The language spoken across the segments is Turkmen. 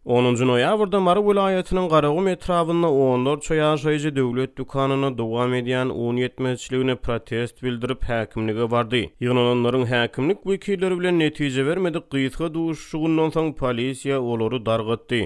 Onunjy noýabrda Mary welaýatynyň Garagum etrabynda onlarça ýaşaýjy döwlet dükanynda dowam edýän un ýetmezçiligine protest bildirip häkimlige bardy. Ýygnananlaryň häkimlik wekilleri bilen netije bermedik gysga duşuşygyndan soň polisiýa olary dargatdy.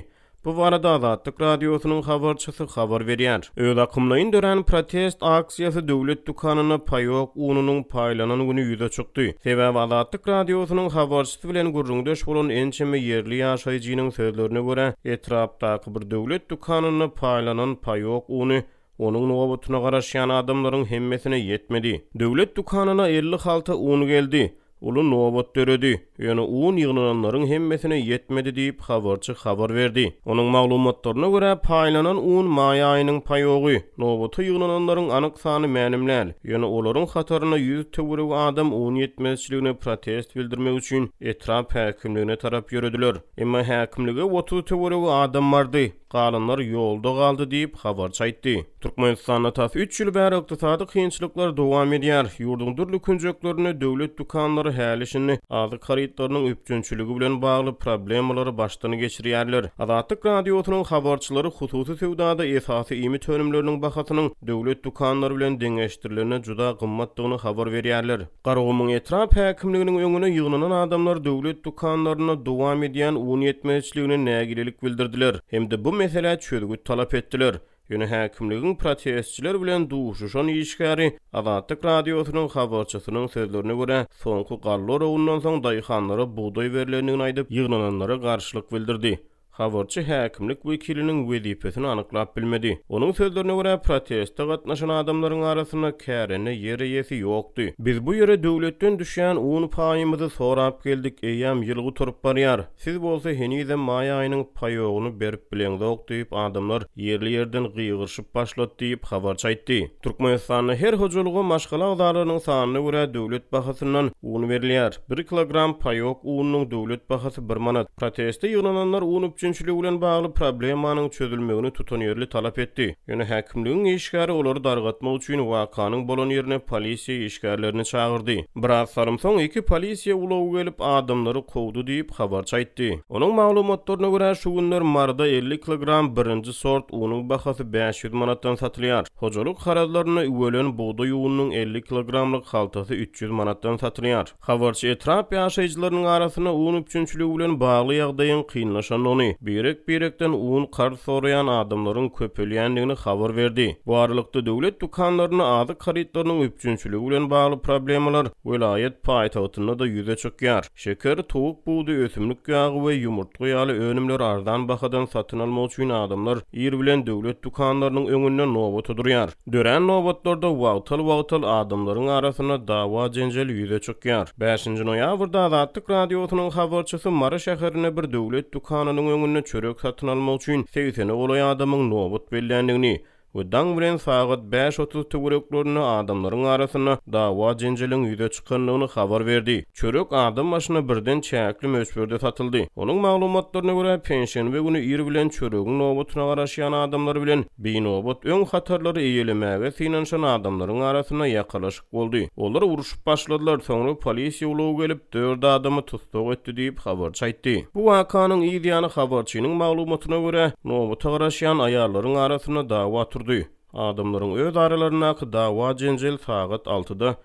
Bu barada Azatlyk Radiosynyň habarçysy habar berýär. Özakymlaýyn dörän protest aksiýasy döwlet dükanynda paýok ununyň paýlanan güni ýüze çykdy. Sebäbi Azatlyk Radiosynyň habarçysy, Şahs bilen gürrüňdeş bolan ençeme ýerli ýaşaýjynyň sözlerine görä, etrapdaky bir döwlet dükanynda paýlanan paýok uny onuň nobatyna garaşýan adamlaryň hemmesine ýetmedi. Döwlet dükanyna elli halta un geldi. Uly nobat döredi. Ýöne un ýygnananlaryň hemmesine ýetmedi diýip, habarçy habar berdi. Onuň maglumatlaryna görä, paýlanan un maý aýynyň paýogy. Nobata ýygnananlaryň anyk sany mälim däl, ýöne olaryň hataryna ýüz töweregi adam un ýetmezçiligine protest bildirmek üçin etrap häkimligine tarap ýörediler. Emma häkimlige otuz töweregi adam bardy, galanlar ýolda galdy diýip, habarçy aýtdy. Türkmenistanda tas üç ýyl bäri ykdysady kynçylyklar dowam edýär. Ýurduň dürli künjeklerinde döwlet dükanlary häli-şindi azyk harytlarynyň üpjünçiligi bilen bagly problemalary başdan geçirýärler. Azatlyk Radiosynyň habarçylary hususy söwdada esasy iýmit önümleriniň bahasynyň döwlet dükanlary bilen deňeşdirilende juda gymmatdygyny habar berýärler. Garagumyň etrap häkimliginiň öňüne ýygnanan adamlar döwlet dükanlarynda dowam edýän un ýetmezçiligine nägilelik bildirdiler hem-de bu meselä çözgüt talap etdiler. Ýöne häkimligiň protestçiler bilen duşuşan işgäri Azatlyk Radiosynyň habarçysynyň sözlerine görä, soňky galla oragyndan soň daýhanlara bugdaý berlendigini aýdyp, ýygnananlara garşylyk bildirdi. Habarçy häkimlik wekiliniň wezipesini anyklap bilmedi. Onuň sözlerine görä, proteste gatnaşan adamlaryň arasynda kärende ýer eýesi ýokdy. Biz bu ýere döwletden düşýän un paýymyzy sorap geldik, eýýäm ýyl gutaryp barýar. Siz bolsa henizem maý aýynyň paýogyny berip bileňzok diýip, adamlar ýerli-ýerden gygyryşyp başlady diýip, habarçy aýtdy. Türkmenistanda her hojalyga maşgala agzalarynyň sanyna görä döwlet bahasyndan un berilýär. Bir kilogram paýok ununyň döwlet bahasy bir manat. Proteste ýygnananlar un üpjünçiligi bilen bagly problemanyň çözülmegini tutanýerli talap etdi. Ýöne häkimligiň işgäri olary dargatmak üçin wakanyň bolan ýerine polisiýa işgärlerini çagyrdy. Biraz salym soň iki polisiýa ulagy gelip, adamlary kowdy diýip, habarçy aýtdy. Onuň maglumatlaryna görä, şu günler Maryda elli kilogram birinji sort unuň bahasy bäş ýüz manatdan satylýar. Hojalyk harazlarynda üwelen bugdaý ununyň elli kilogramlyk haltasy üç ýüz manatdan satylýar. Habarçy etrap ýaşaýjylarynyň arasynda un üpjünçiligi bilen bagly ýagdaýyň kynlaşandygyny, birek-birekden un karz soraýan adamlaryň köpelýändigini habar berdi. Bu aralykda, döwlet dükanlarynda azyk harytlarynyň üpjünçiligi bilen bagly problemalar welaýat paýtagtynda-da ýüze çykýar. Şeker, towuk budy, ösümlik ýagy we ýumurtga ýaly önümleri arzan bahadan satyn almak üçin adamlar ir bilen döwlet dükanlarynyň öňünde nobata durýar. Dörän nobatlarda wagtal-wagtal adamlaryň arasynda dawa-jenjel ýüze çykýar. Bäşinji noýabrda Azatlyk Radiosynyň habarçysy Mary şäherinde bir döwlet dükanynyň öňünde çörek satyn almak üçin segsene golaý adamyň nobat belländigini we daň bilen sagat bäş otuz töwereklerinde adamlaryň arasynda dawa-jenjeliň ýüze çykandygyny habar berdi. Çörek adam başyna birden çäkli möçberde satyldy. Onuň maglumatlaryna görä, penşenbe güni ir bilen çöregiň nobatyna garaşýan adamlar bilen, Binobat öň hatarlary eýelemäge synanyşan adamlaryň arasynda ýakalaşyk boldy. Olar urşup başladylar, soňra polisiýa ulagy gelip, dört adamy tussag etdi diýip, habarçy aýtdy. Bu wakanyň yz ýany habarçynyň maglumatyna görä, nobata garaşýan aýallaryň arasynda dawa turdy. Adamlaryň öz aralaryndaky dawa-jenjel sagat altyda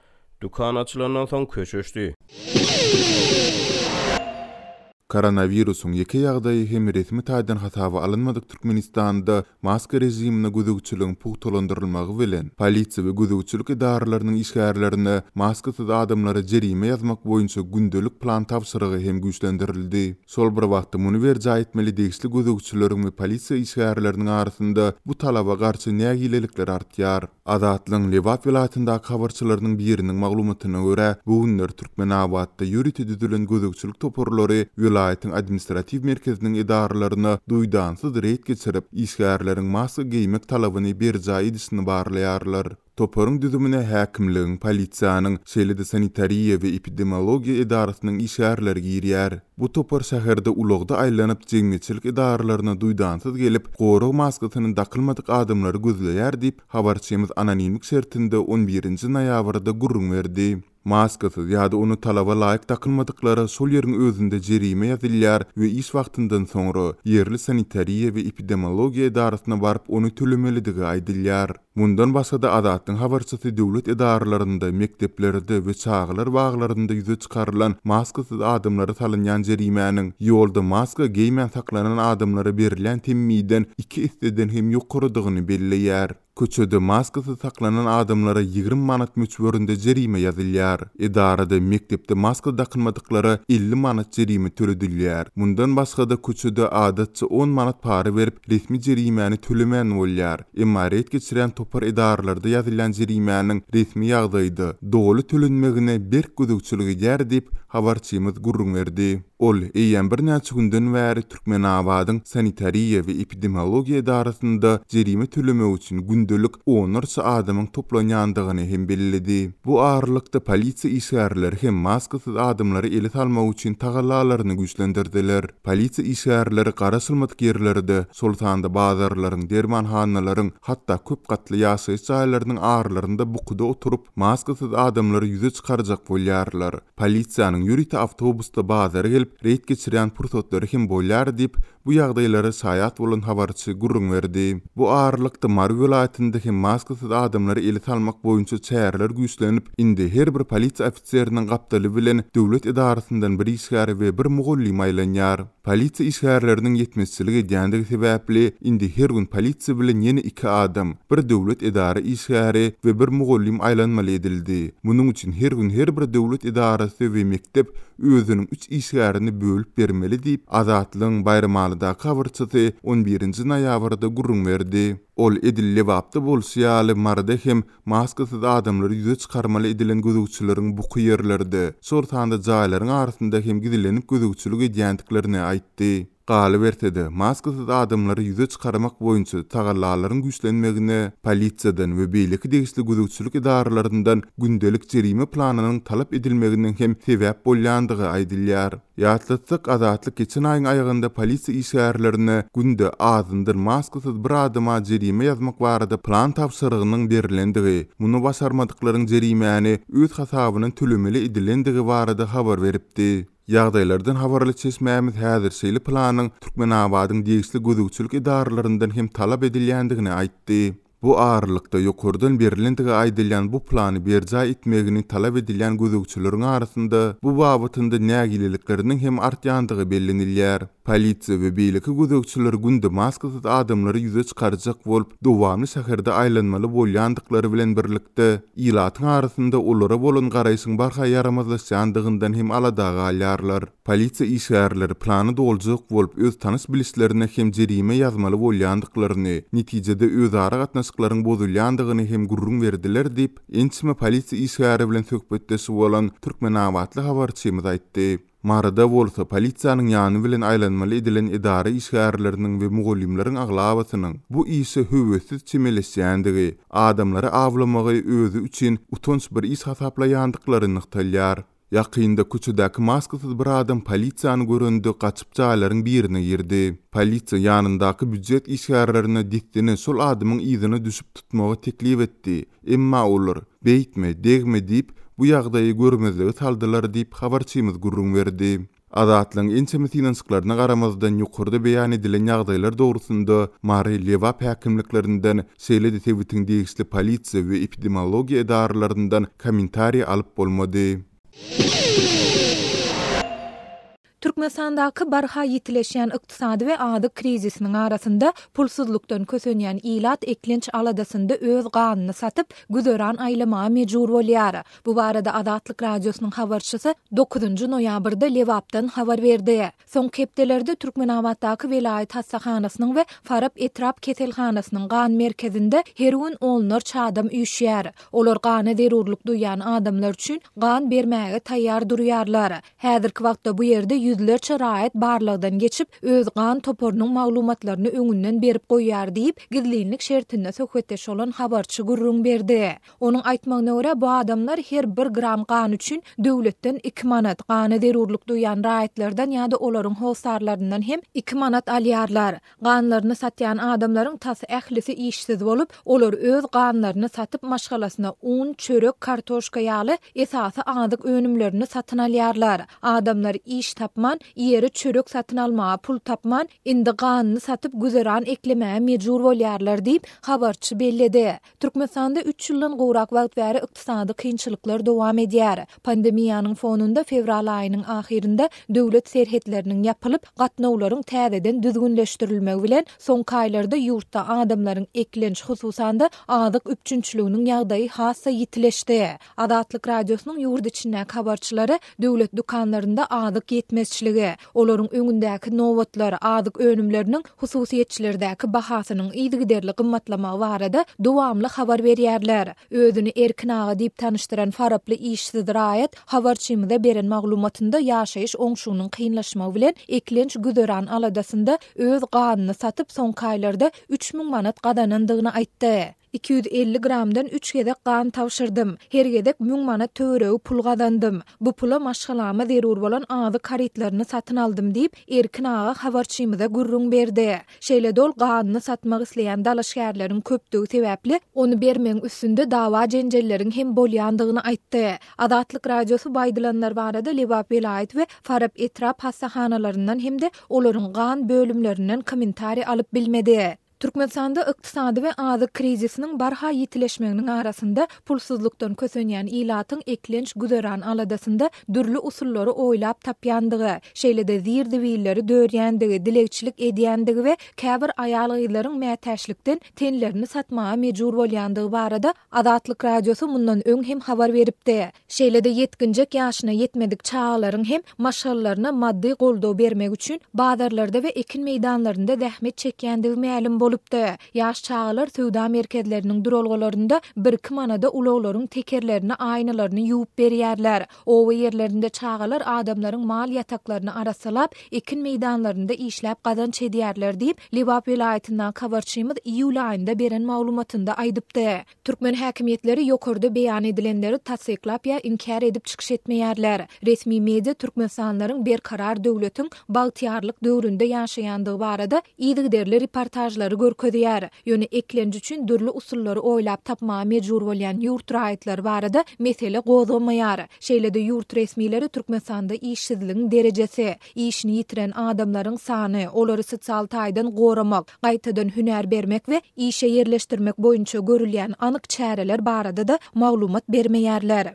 Dükan açylandan soň köşeşdi. Koronawirusyň ýeke ýagdaýy hem resmi taýdan hasaba alynmadyk Türkmenistanda maska režimine gözegçiligiň pugtalandyrylmagy bilen, polisiýa we gözegçilik edaralarynyň işgärlerine maskasyz adamlara jerime ýazmak boýunça gündelik plan tabşyrygy hem güýçlendirildi. Şol bir wagtda, muny berjaý etmeli degişli gözegçileriň we polisiýa işgärleriniň arasynda bu talaba garşy nägilelikler artýar. Azatlygyň Lebap welaýatyndaky habarçylarynyň biriniň maglumatyna görä, bu günler Türkmenabatda ýörite düzülen gözegçilik toparlary welaýatyň administratiw merkeziniň edaralaryna duýdansyz reýd geçirip, işgärleriň maska geýmek talabyny berjaý edişini barlaýarlar. Toparyň düzümine häkimligiň, polisiýanyň, şeýle-de sanitariýa we epidemiologiýa edarasynyň işgärleri girýär. Bu topar şäherde ulagda aýlanyp, jemgyýetçilik edaralaryna duýdansyz gelip, gorag maskasyny dakylmadyk adamlary gözleýär diýip, habarçymyz anonimlik şertinde on birinji noýabrda gürrüň berdi. Maskasyz ýa-da ony talaba laýyk dakylmadyklara şol ýeriň özünde jerime ýazylýar we iş wagtyndan soňra, ýerli sanitariýa we epidemiologiýa edarasyna baryp, ony tölemelidigi aýdylýar. Mundan başga-da Azatlygyň habarçysy döwlet edaralarynda, mekdeplerde we çagalar baglarynda ýüze çykarylan maskasyz adamlara salynýan jerimäniň ýolda maska geýmän saklanan adamlara berilýän temmiden iki esseden hem ýokarydygyny belleýär. Köçede maskasyz saklanan adamlara ýigrimi manat möçberinde jerime ýazylýar. Edarada, mekdepde maska dakynmadyklara elli manat jerime töledilýär. Mundan başga-da köçede adatça on manat para berip resmi jerimäni tölemän bolýar. Emma reýd geçirýän topar edaralarda ýazylýan jerimäniň resmi ýagdaýda doly tölenmegine berk gözegçilik edýär diýip, habarçymyz gürrüň berdi. Ol eýýäm birnäçe günden bäri Türkmenabadyň sanitariýa we epidemiologiýa edarasynda jerime tölemek üçin gündelik onlarça adamyň toplanýandygyny hem belledi. Bu aralykda polisiýa işgärleri hem maskasyz adamlary ele salmak üçin tagallalaryny güýçlendirdiler. Polisiýa işgärleri garaşylmadyk ýerlerde, şol sanda bazarlaryň, dermanhanalaryň, hatda köp gatly ýaşaýyş jaýlarynyň arlarynda bukuda oturyp, maskasyz adamlary ýüze çykarjak bolýarlar. Polisiýanyň ýörite awtobusda bazara gelip, reýd geçirýän pursatlary hem bolýar diýip, bu ýagdaýlara şaýat bolan habarçy gürrüň berdi. Bu aralykda, Mary welaýatynda hem maskasyz adamlara ele salmak boýunça çäreler güýçlenip, indi her bir polisiýa Seriniň gapdaly bilen döwlet edarasyndan bir işgär we bir mugallym aýlanýar. Polisiýa işgärleriniň ýetmezçilik edýändigi sebäpli, indi her gün polisiýa bilen ýene iki adam, bir döwlet edara işgäri we bir mugallym aýlanmaly edildi. Munuň üçin her gün her bir döwlet edarasy we mekdep özüniň üç işgärini bölüp bermeli diýip, Azatlygyň Baýramalydaky habarçysy on birinji noýabrda gürrüň berdi. Ol edil Lebapda bolşy ýaly Maryda hem Maskasyz adamlary ýüze çykarmaly edilen gözegçileriň buky ýerlerde, şol sanda jaýlaryň arasynda hem gizlenip gözegçilik edýändiklerini aýtdy. Galyberse-de, maskasyz adamlary ýüze çykarmak boýunça tagallalaryň güýçlenmegine polisiýadan we beýleki degişli gözegçilik edaralaryndan gündelik jerime planynyň talap edilmeginiň hem sebäp bolýandygy aýdylýar. Ýatlatsak, Azatlyk geçen aýyň aýagynda polisiýa işgärlerine günde, azyndan, maskasyz bir adama jerime ýazmak barada plan tabşyrygynyň berilendigi, muny başarmadyklaryň jerimäni öz hasabyna tölemeli edilendigi barada habar beripdi. Ýagdaýlardan habarly çeşmämiz häzir şeýle planyň Türkmenabadyň degişli gözegçilik edaralaryndan hem talap edilýändigini aýtdy. Bu aralykda, ýokardan berilendigi aýdylýan bu plany berjaý etmegini talap edilýän gözegçileriň arasynda bu babatynda nägilelikleriniň hem artýandygy bellenilýär. Polisiýa we beýleki gözegçiler günde maskasyz adamlary ýüze çykarjak bolup, dowamly şäherde aýlanmaly bolýandyklary bilen birlikde, ilatyň arasynda olara bolan garaýşyň barha ýaramazlaşýandygyndan hem alada galýarlar. Polisiýa işgärleri plany doljak bolup öz tanyş-bilişlerine hem jerime ýazmaly bolýandyklaryny, netijede özara gatnaşyklaryň bozulýandygyny hem gürrüň berdiler diýip, ençeme polisiýa işgäri bilen söhbetdeş bolan türkmenabatly habarçymyz aýtdy. Maryda bolsa polisiýanyň ýany bilen aýlanmaly edilen edara işgärleriniň we mugallymlaryň aglabasynyň bu işe höwessiz çemeleşýändigi, adamlary awlamagy özi üçin utanç bir iş hasaplaýandyklary nygtalýar. Ýakynda köçedäki maskasyz bir adam polisiýany görende gaçyp jaýlaryň birine girdi. Polisiýa ýanyndaky býujet işgärlerine dessine şol adamyň yzyna düşüp tutmagy teklip etdi, emma olar, Beýtme, degme diýip, bu ýagdaýy görmezlige saldylar diýip, habarçymyz gürrüň berdi. Azatlygyň ençeme synanyşyklaryna garamazdan ýokarda beýan edilen ýagdaýlar dogrusynda Mary, Lebap häkimliklerinden, şeýle-de sebitiň degişli polisiýa we epidemiologiýa edaralaryndan kommentariý alyp bolmady. Türkmenistandaky barha ýitileşýän ykdysady we azyk krizisiniň arasynda pulsuzlykdan kösenýän ilat eklenç aladasynda öz ganyny satyp, güzeran aýlamaga mejbur bolýar. Bu barada Azatlyk Radiosynyň habarçysy dokuzynjy noýabrda Lebapdan habar berdi. Soňky hepdelerde Türkmenabatdaky welaýat hassahanasynyň we Farap etrap keselhanasynyň gan merkezinde her gün onlarça adam üýşýär. Olar gana zerurlyk duýýan adamlar üçin gan bermäge taýýar durýarlar. Häzirki wagtda bu ýerde ýüzlerçe raýat barlagdan geçip, öz gan toparynyň maglumatlaryny öňünden berip goýýar diýip, gizlinlik şertinde söhbetdeş bolan habarçy gürrüň berdi. Onuň aýtmagyna görä, bu adamlar her bir gram gan üçin döwletden iki manat, gana zerurlyk duýýan raýatlardan ýa-da olaryň hossarlaryndan hem iki manat alýarlar. Ganlaryny satýan adamlaryň tas ählisi işsiz bolup, olar öz ganlaryny satyp maşgalasyna un, çörek, kartoşka ýaly esasy azyk önümlerini satyn alýarlar. Adamlar iş tapman, iýere çörek satyn almaga pul tapman, indi ganyny satyp güzeran eklemäge mejbur bolýarlar diýip, habarçy belledi. Türkmenistanda üç ýyldan gowrak wagt bäri ykdysady kynçylyklar dowam edýär. Pandemiýanyň fonunda fewral aýynyň ahyrynda döwlet serhetleriniň ýapylyp, gatnawlaryň täzeden düzgünleşdirilmegi bilen, soňky aýlarda ýurtda adamlaryň eklenç, hususan-da, azyk üpjünçiliginiň ýagdaýy has-da ýitileşdi. Azatlyk Radiosynyň ýurt içindäki habarçylary döwlet dükanlarynda azyk ýetmezçiligi, olaryň öňündäki nobatlar, azyk önümleriniň hususyýetçilerdäki bahasynyň yzygiderli gymmatlamagy barada dowamly habar berýärler. Özüni Erkin aga diýip tanyşdyran faraply işsiz raýat habarçymyza beren maglumatynda ýaşaýyş oňşunyň kynlaşmagy bilen eklenç güzeran aladasynda öz ganyny satyp soňky aýlarda üç müň manat gazanandygyny aýtdy. Iki ýüz elli gramdan üç gezek gan tabşyrdym. Her gezek müň manat töweregi pul gazandym. Bu pula maşgalama zerur bolan azyk harytlaryny satyn aldym diýip, Erkin aga habarçymyza gürrüň berdi. Şeýle-de ol ganyny satmak isleýän dalaşgärleriň köpdügi sebäpli, ony bermegiň üstünde dawa-jenjelleriň hem bolýandygyny aýtdy. Azatlyk Radiosy bu aýdylanlar barada Lebap welaýat we Farap etrap hassahanalaryndan hem-de olaryň gan bölümlerinden kommentariý alyp bilmedi. Türkmenistanda ykdysady we azyk krizisiniň barha ýitileşmeginiň arasynda pulsuzlykdan kösenýän ilatyň eklenç güzeran aladasynda dürli usullary oýlap tapýandygy, şeýle-de zir-zibilleri dörýändigi, dilegçilik edýändigi we käbir aýal-gyzlaryň mätäçlikden tenlerini satmaga mejbur bolýandygy barada Azatlyk Radiosy mundan öň hem habar beripdi. Şeýle-de ýetginjek ýaşyna ýetmedik çagalaryň hem maşgalalaryna maddy goldaw bermek üçin bazarlarda we ekin meýdanlarynda zähmet çekýändigi mälim bolupdy. Ýaş çagalar söwda merkezleriniň duralgalarynda birki manada ulaglaryň tekerlerini, aýnalaryny ýuwup berýärler. Oba ýerlerinde çagalar adamlaryň mal ýataklaryny arassalap, ekin meýdanlarynda işläp gazanç edýärler diýip, Lebap welaýatyndan habarçymyz iýul aýynda beren maglumatynda aýdypdy. Türkmen häkimiýetleri ýokarda beýan edilenleri tassyklap ýa inkär edip çykyş etmeýärler. Resmi media türkmenistanlylaryň Berkarar döwletiň bagtyýarlyk döwründe ýaşaýandygy barada yzygiderli reportažlary görkezýär. Ýöne eklenç üçin dürli usullary oýlap tapmaga mejbur bolýan ýurt raýatlary barada mesele gozgamaýar. Şeýle-de ýurt resmileri Türkmenistanda işsizligiň derejesi, işini ýitiren adamlaryň sany, olary sosial taýdan goramak, gaýtadan hünär bermek we işe ýerleşdirmek boýunça görülýän anyk çäreler barada-da maglumat bermeýärler.